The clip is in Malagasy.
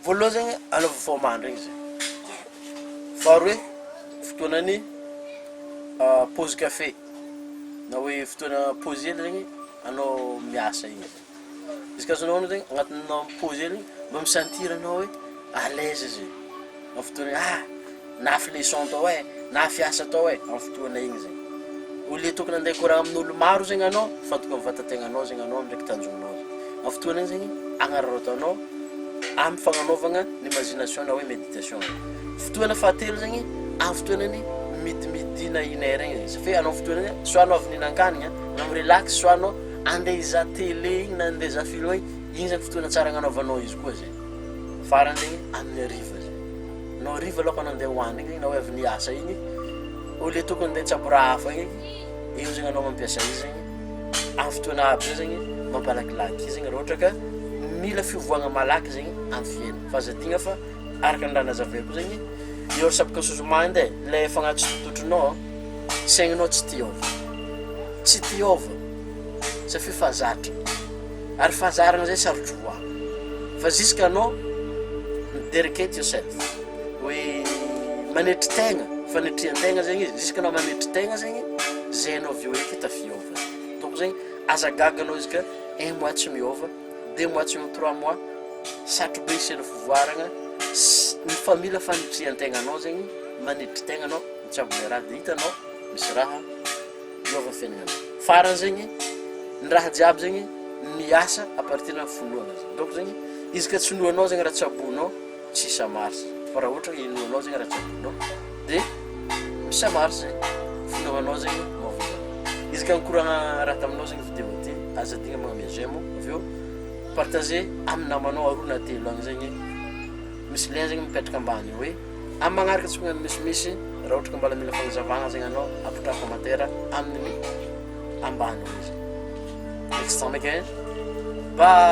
Voaloha zegny anaovao fo mandry igny zay, faharoe fotoanan'ny pause kafe na hoe fotoana pause hely regny anao miasa igny zay, izy ka azonao onony zegny agnatinao pause hely igny mba mi-sentir anao hoe à l'aise zay. Amin'ny fotoana hoe ah! na fileçon tao eh! na fiasa tao eh! amin'ny fotoana iny zegny. Au lieu tokony handeha hikoragna amin'olo maro zegny anao fa tokony amin'ny vatan-tegnanao zegny anao ndraiky tanjonao zegny. Amin'ny fotoana iny zegny agnararaotanao amin'ny fagnanaovagna ny imagination na hoe méditation. Fotoana fahatelo zegny, amin'ny fotoana ny midimidina une heure igny izy fe anao fotoana hoe soit anao avy nihinan-kanigna na mi-relax soit anao andeha hizaha télé igny na andeha hizaha film igny, igny zany fotoana tsara agnanaovanao izy koa zay. Farany amin'ny hariva zay, no hariva aloha ka nandeha hoany igny na hoe avy niasa igny, au lieu tokony ndeha hitsabo raha hafa igny, eo zegny anao mampiasa izy zegny, amin'ny fotoana aby zay zegny mampalakilaky izy igny raha ohatra ka mila fiovagna malaky zegny amin'ny fiaina, fa aza adino fa araka ny raha nazavaiko zegny, eo resaboka sous mind e, le efa agnaty sompitotronao an, saignanao tsy te hiova, tsy te hiova, satria efa zatra. Ary fanjaragna zay sarotro ho avy. Fa jusque anao mi-dedicate yourself, hoe manetry tegna, fanetrian-tegna zegny izy, jusque anao manetry tegna zegny, zay anao vao hoe hita fiôvagna. Donc zegny, aza gaga anao izy ka un mois tsy miôva, deux mois tsy miôva, trois mois, sarotro be hiseho fivoaragna, s- ny fa mila fanetrian-tegna anao zegny, manetry tegna anao, mitsabo le raha de hitanao misy raha. Miova fiaignana. Farany zegny, ny raha jiaby zegny miasa à partir ny finoana zegny. Donc zegny, izy ka tsy inoanao zegny raha tsaboinao, tsy hisa marsa. Fa raha ohatra hoe inoanao zegny raha tsaboinao, dia misa marsa e. Finoanao zegny mahavita. Izy ka nikoragna raha taminao zegny video ty, aza adigna magname j'aime ô. Avy eo, partagez amin'ny namanao aroa na telo agny zegny. Misy lien zegny mipetraka ambany eo hoe. Amin'ny magnaraka tsy miha misimisy raha ohatra ka mbola mila fagnazavagna zegny anao apetraha commentaire amin'ny ambany. Next time again. Bye.